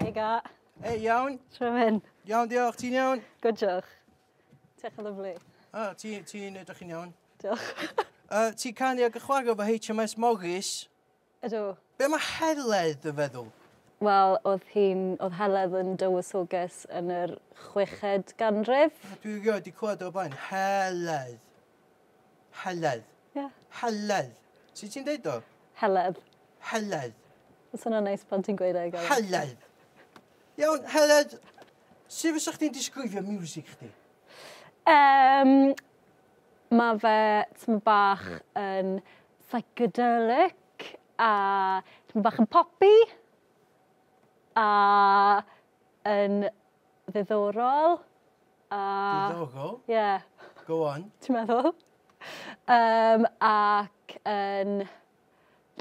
Hei ga. Hei, iawn? Tro hyn. Iawn, diolch. Ti'n iawn? Good, diolch. Tech yn lyflu. Ah, ti'n ti edrych yn iawn. Diolch. uh, ti'n canu ag y chwarae fo HMS Morris? Ydw. Be mae Heledd yn feddwl? Wel, oedd hi'n... oedd Heledd yn dywysoges yn yr chweched ganrif. Dwi rioed wedi clywed o'r blaen. Heledd. Heledd. Ie. Heledd. Sut ti'n deud o? Heledd. Heledd. Mae'n swnio'n neis pan ti'n gweud e. Heledd. Iawn, Heledd, sut fysa chdi'n disgrifio music chdi? Um, mae fe tm bach yn psychedelic a tm bach yn popi a yn ddiddorol. A... Diddorol. Ie. Go on. Ti'n meddwl? Um, ac yn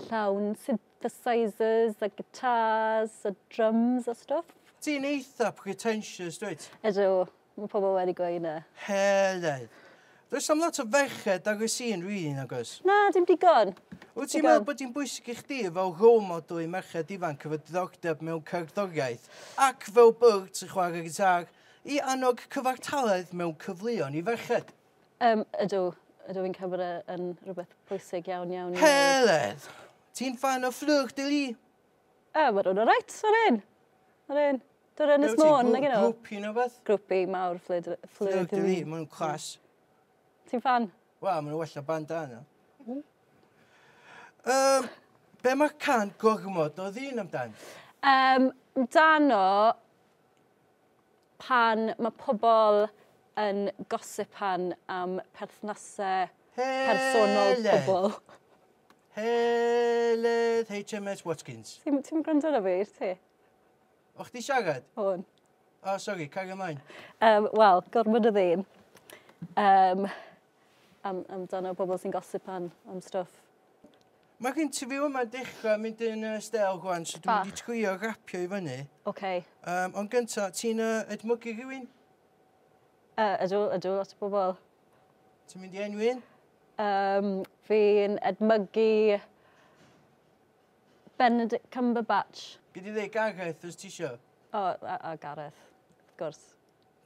llawn synthesizers a guitars a drums a stuff. Ti'n eitha pretentious, dweud? Ydw, mae pobl wedi gweud na. Heledd. Does am lot o ferched ar y sîn rili, nag oes? Na, dim digon. Wyt ti'n meddwl bod hi'n bwysig i chdi fel role model i merched ifanc efo diddordeb mewn cerddoriaeth ac fel byrd sy'n chwarae gitar I annog cyfartaledd mewn cyfleon i ferched. Um, ydw, ydw i'n cymryd e yn rhywbeth pwysig iawn iawn. Heledd! Ti'n fan o fflwch dy li? A, mae rhywun o reit, o'r un. O'r un. Dwi'n Ynys Môn, nag yno? Grwpi neu beth? Grwpi mawr, fflyd dy li. Fflwch dy li, maen nhw'n clas. Ti'n fan? Wel, maen nhw well o bandana. Um, hmm. be mae can gormod o ddyn amdan? Um, dan o, Pan mae pobl yn gosipan am perthnasau personol pobl. Heledd HMS Watkins. Ti'n ti gwrando arno fi, ti? O chdi siarad? O'n. O, sori, cario mlaen. Um, Wel, gormod o ddyn. Um, am amdano pobl sy'n gosip am am stwff. Ma'r interview yma'n dechra mynd yn yy stêl rŵan so dwi'n mynd i trio rapio i fyny. Oce. Yym ond gynta, ti'n yy edmygu rhywun? Yy ydw ydw lot o bobl. Ti'n mynd i enwi un? Yym fi'n edmygu Benedict Cumberbatch. Gei di ddeu Gareth os tisio. O a a Gareth wrth gwrs.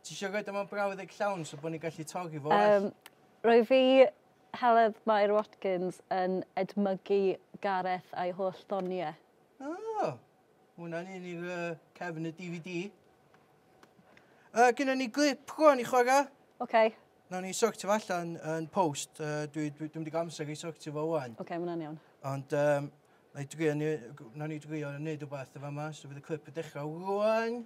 Ti eisiau rhoi dyma brawddeg llawn so bod ni'n gallu torri fo well? Um, rwy fi Heledd Mair Watkins yn edmygu Gareth a'i holl ddoniau. Oh, hwnna'n un i'r uh, cefn y DVD. Uh, Gynna ni glip rwan i chwarae. Oce. Okay. Nawn ni sortio fo allan yn post. Uh, dwi, dwi, dwi wedi amser i sortio fo wan. Oce, okay, mae'n iawn. Ond um, na i drio, nawn ni drio wneud rhywbeth efo yma. So bydd y clip y dechrau rwan.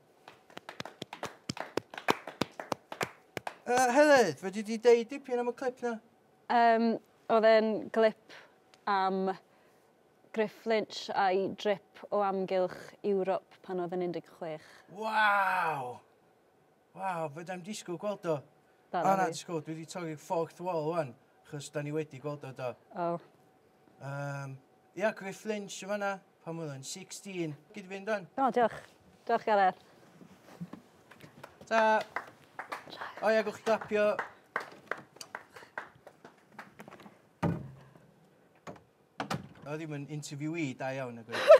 Uh, Heledd, fedri di deud dipyn am y clip na? Um, oedd e'n glip am Griff Lynch a'i drip o amgylch Ewrop pan oedd yn 16. Waw! Waw, fe da'n disgwyl gweld o. Da, na, disgwyl, dwi wedi torri'r fourth wall wan, chos da ni wedi gweld o do. O. Um, ia, Griff Lynch yma na. Pan oedd o'n 16. Gyd fynd dan. O, diolch. Diolch, Gareth. Ta. O ia, gwch chi glapio. O, ddim yn interviewee da iawn, y gwir.